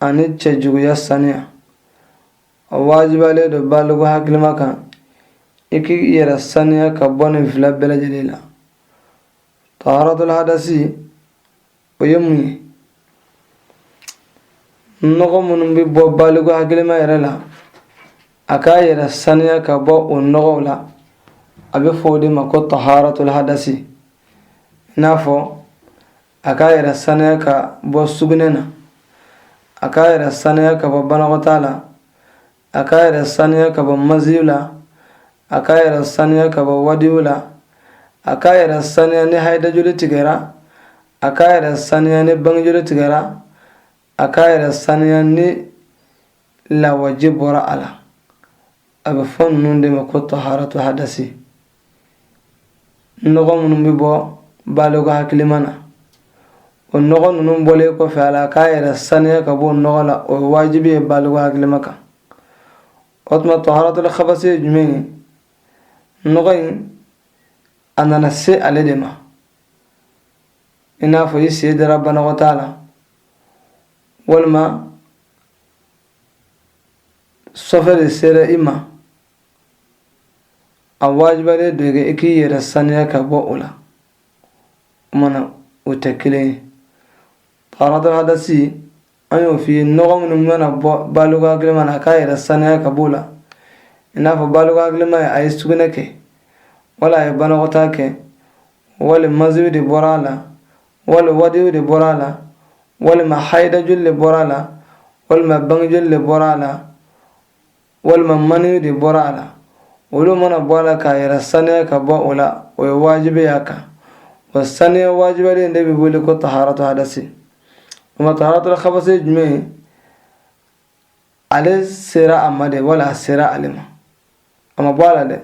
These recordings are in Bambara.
ani cɛjuguya saniya o waajibalen don balogo hakilima kan i k'i yɛrɛ saniya ka bɔ nin fila bɛɛ lajɛlen la taharatul hadasi o ye mun ye nɔgɔ minnu bɛ bɔ balogo hakilima yɛrɛ la a k'a yɛrɛ saniya ka bɔ o nɔgɔw la a bɛ fɔ o de ma ko taharatul hadasi i n'a fɔ a k'a yɛrɛ saniya ka bɔ sugunɛ na a k'a yɛrɛ saniya ka bɔ banakɔtaa la a k'a yɛrɛ saniya ka bɔ maziw la a k'a yɛrɛ saniya ka bɔ wadiw la a k'a yɛrɛ saniya ni hayidajoli tigɛra a k'a yɛrɛ saniya ni bangejoli tigɛra a k'a yɛrɛ saniya ni lawaji bɔra a la a bɛ fɔ ninnu de ma ko taharatu hadasi nɔgɔ minnu bɛ bɔ balogo hakilima na o nɔgɔ ninnu bɔlen kɔfɛ a la k'a yɛrɛ saniya ka bɔ nɔgɔ la o ye wajibi ye balogo hakilima kan o tuma taharatul khabasi ye jumɛn ye nɔgɔ in a nana se ale de ma i n'a fɔ i sen dara banakɔtaa la walima sɔfɛ de sera i ma a wajibalen don i k'i yɛrɛ saniya ka bɔ o la o mana o tɛ kelen ye taharatul hadasi an y'o f'i ye nɔgɔ minnu mana bɔ balogo hakilima na a k'a yɛrɛ saniya ka bɔ o la i n'a fɔ balogo hakilima a ye sugunɛ kɛ wala a ye banakɔtaa kɛ wali maziw de bɔra a la wali wadiw de bɔra a la walima hayidajoli de bɔra a la walima bangejoli de bɔra a la walima maniw de bɔra a la olu mana bɔ a la k'a yɛrɛ saniya ka bɔ o la o ye wajibi y'a kan wa saniya wajibalen de bɛ wele ko taharatu hadasi o ma taharatul khabasi ye jumɛn ye ale sera a ma de wala a sera ale ma a ma bɔ a la dɛ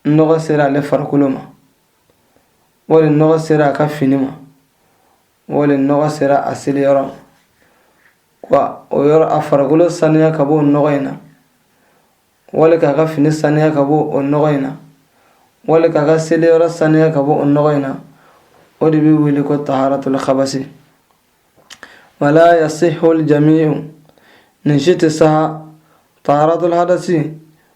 nɔgɔ sera ale farikolo ma wali nɔgɔ sera a ka fini ma wali nɔgɔ sera a seli yɔrɔ ka o yɔrɔ a farikolo saniya ka bɔ o nɔgɔ in na wali k'a ka fini saniya ka bɔ o nɔgɔ in na wali k'a ka seli yɔrɔ saniya ka bɔ o nɔgɔ in na o de bɛ wele ko taharatul khabasi wala yasihul jami'u nin si tɛ saha taharatul hadasi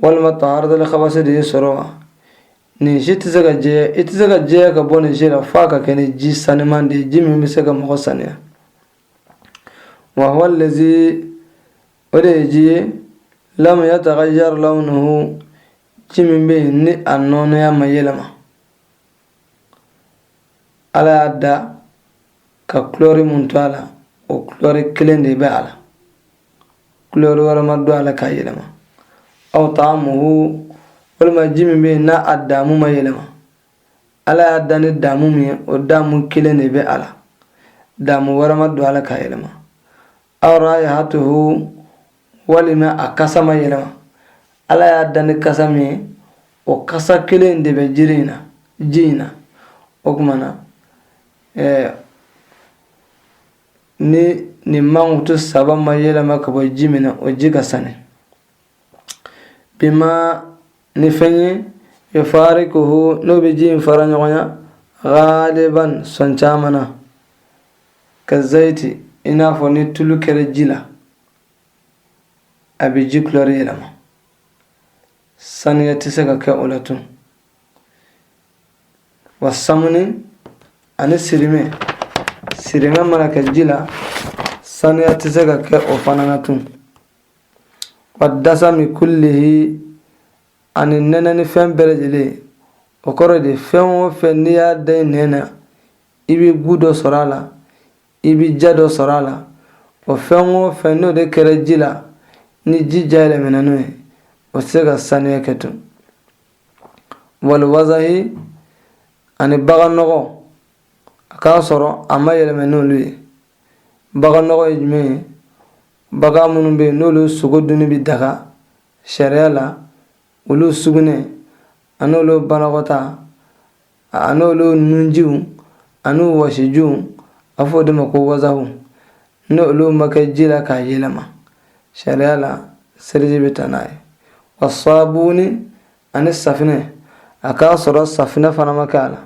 walima taharatul khabasi de y'i sɔrɔ wa nin si tɛ se ka jɛya i tɛ se ka jɛya ka bɔ nin si la f'a ka kɛ ni ji saniman de ye ji min bɛ se ka mɔgɔ saniya wa huwa allazi o de ye ji ye lam yataghayyar lawnuhu ji min bɛ yen ni a nɔɔnɔya ma yɛlɛma ala y'a da ka kulɛri min to a la o kulɛri kelen de bɛ a la kulɛri wɛrɛ ma don a la k'a yɛlɛma aw taamuhu walima ji min bɛ yen n'a a damu ma yɛlɛma ala y'a dan ni damu min ye o damu kelen de bɛ a la damu wɛrɛ ma don a la k'a yɛlɛma aw raihatuhu walima a kasa ma yɛlɛma ala y'a dan ni kasa min ye o kasa kelen de bɛ ji in na o tuma na ɛɛ ni nin mankutu saba ma yɛlɛma ka bɔ ji min na o ji ka sani bima ni fɛn ye yufarikuhu n'o bɛ ji in faraɲɔgɔnya ghaliban sɔn caman na ka zayiti i n'a fɔ ni tulu kɛra ji la a bɛ ji kulɛri yɛlɛma saniya tɛ se ka kɛ o la tun wa samuni ani sirimɛ sirimɛ mana kɛ ji la saniya tɛ se ka kɛ o fana na tun wa dasami kullihi ani nɛnɛnifɛn bɛɛ lajɛlen o kɔrɔ de fɛn o fɛn n'i y'a da i nɛn na i bɛ gu dɔ sɔrɔ a la i bɛ ja dɔ sɔrɔ a la o fɛn o fɛn n'o de kɛra ji la ni ji ja yɛlɛmana n'o ye o tɛ se ka saniya kɛ tun waliwazahi ani bagan nɔgɔ a k'a sɔrɔ a ma yɛlɛmɛ n'olu ye bagan nɔgɔ ye jumɛn ye bagan minnu bɛ yen n'olu sogo dunni bɛ daga sariya la olu sugunɛ ani olu banakɔta ani olu nunjiw ani wɔsijiw a fɔ o de ma ko wazahu n'olu ma kɛ ji la k'a yɛlɛma sariya la seliji bɛ ta n'a ye wa sabuni ani safinɛ a k'a sɔrɔ safinɛ fana ma kɛ a la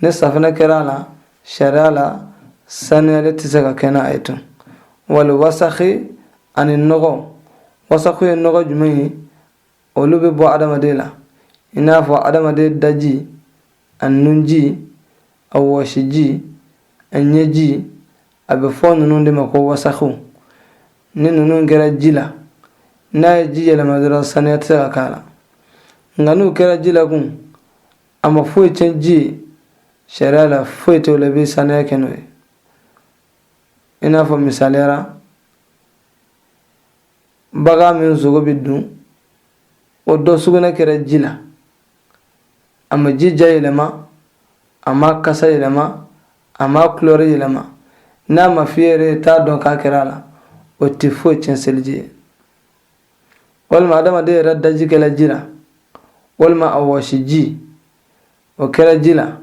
ni safinɛ kɛra a la sariya la saniyali tɛ se ka kɛ n'a ye tun wali wasaki ani nɔgɔ wasaku ye nɔgɔ jumɛn ye olu bɛ bɔ adamaden la i n'a fɔ adamaden daji a nunji a wɔsiji a ɲɛji a bɛ fɔ ninnu de ma ko wasaku ni ninnu kɛra ji la n'a ye ji yɛlɛma dɔrɔn saniya tɛ se ka k'a la nka n'u kɛra ji la kun a ma foyi tiɲɛ ji ye sariya la foyi tɛ o la i bɛ saniya kɛ n'o ye i n'a fɔ misaliyara bagan min sogo bɛ dun o dɔ sugunɛ kɛra ji la a ma ji ja yɛlɛma a ma kasa yɛlɛma a ma kulɔri yɛlɛma n'a ma f'i yɛrɛ t'a dɔn k'a kɛra a la o tɛ foyi tiɲɛ seliji ye walima adamaden yɛrɛ daji kɛla ji la walima a wɔsiji o kɛra ji la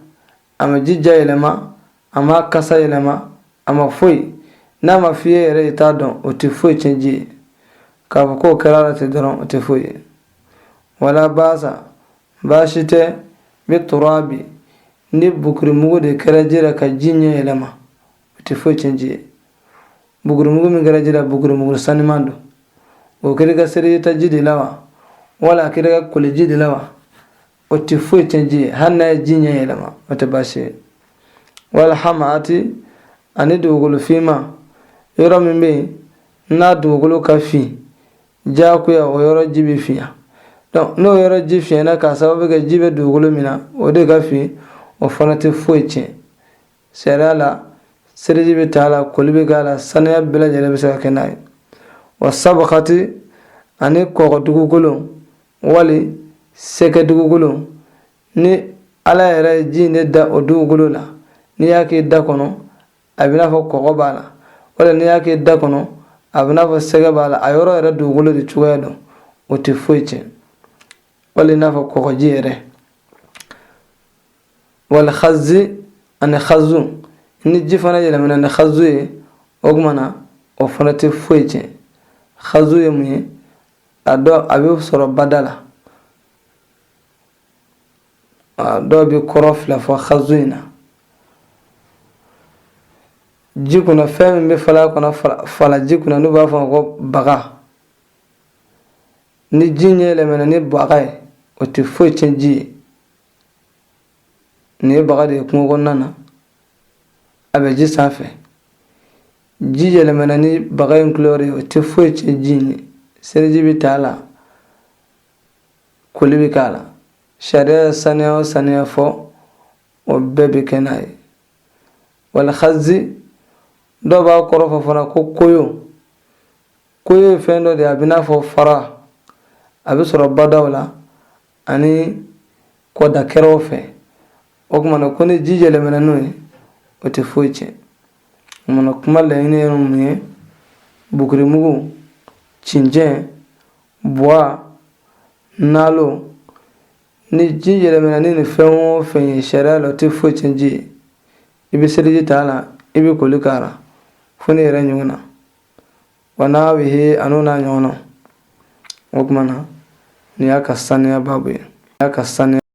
a ma ji ja yɛlɛma a ma kasa yɛlɛma a ma foyi n'a ma f'i ye yɛrɛ i t'a dɔn o tɛ foyi tiɲɛ ji ye k'a fɔ k'o kɛra a la ten dɔrɔn o tɛ foyi ye wala baasa baasi tɛ bituraabi ni bugurimugu de kɛra ji la ka ji ɲɛ yɛlɛma o tɛ foyi tiɲɛ ji ye bugurimugu min kɛra ji la bugurimugu saniman don o kɛra i ka seliji ta ji de la wa wala a kɛra i ka koliji de la wa o tɛ foyi tiɲɛ ji ye hali n'a ye ji ɲɛ yɛlɛma o tɛ baasi ye wal hamaati ani dugukolo finma yɔrɔ min bɛ yen n'a dugukolo ka fin diyagoya o yɔrɔ ji bɛ finya donc n'o yɔrɔ ji finyana k'a sababu kɛ ji bɛ dugukolo min na o de ka fin o fana tɛ foyi tiɲɛ sariya la seliji bɛ ta a la koli bɛ k'a la saniya bɛɛ lajɛlen bɛ se ka kɛ n'a ye wa sabakati ani kɔgɔ dugukolo wali sɛgɛ dugukolo ni ala yɛrɛ ye ji in de da o dugukolo la n'i y'a k'i da kɔnɔ a bɛ n'a fɔ kɔgɔ b'a la wala n'i y'a k'i da kɔnɔ a bɛ n'a fɔ sɛgɛ b'a la a yɔrɔ yɛrɛ dugukolo de cogoya don o tɛ foyi tiɲɛ wali i n'a fɔ kɔgɔji yɛrɛ wal xazi ani xazu ni ji fana yɛlɛmana ni xazu ye o tuma na o fana tɛ foyi tiɲɛ xazu ye mun ye a dɔ a bɛ sɔrɔ bada la a dɔw bɛ kɔrɔ fila fɔ xazu in na ji kunna fɛn min bɛ fala kɔnɔ fala ji kunna n'u b'a fɔ ma ko baga ni ji ɲɛ yɛlɛmana ni baga ye o tɛ foyi tiɲɛ ji ye nin ye baga de ye kungo kɔnɔna na a bɛ ji sanfɛ ji yɛlɛmana ni baga in kulɛri ye o tɛ foyi tiɲɛ ji in ye seliji bɛ ta a la koli bɛ k'a la sariya saniya o saniya fɔ o bɛɛ bɛ kɛ n'a ye wal xazi dɔw b'a kɔrɔ fɔ fana ko koyo koyo ye fɛn dɔ de ye a bɛ n'a fɔ fara a bɛ sɔrɔ badaw la ani kɔdakɛrɛw fɛ o tuma na ko ni ji yɛlɛmana n'o ye o tɛ foyi tiɲɛ O tuma na kuma laɲini ye mun ye bugurimugu cincɛn buwa nalo ni ji yɛlɛmana ni nin fɛn o fɛn ye sariya la o tɛ foyi cɛn ji ye i bɛ seliji ta a la i bɛ koli k'a la fo nin yɛrɛ ɲɔgɔnna wa nahawihi an'o n'a ɲɔgɔnna o tuma na nin y'a ka saniya baabu ye y'a ka saniya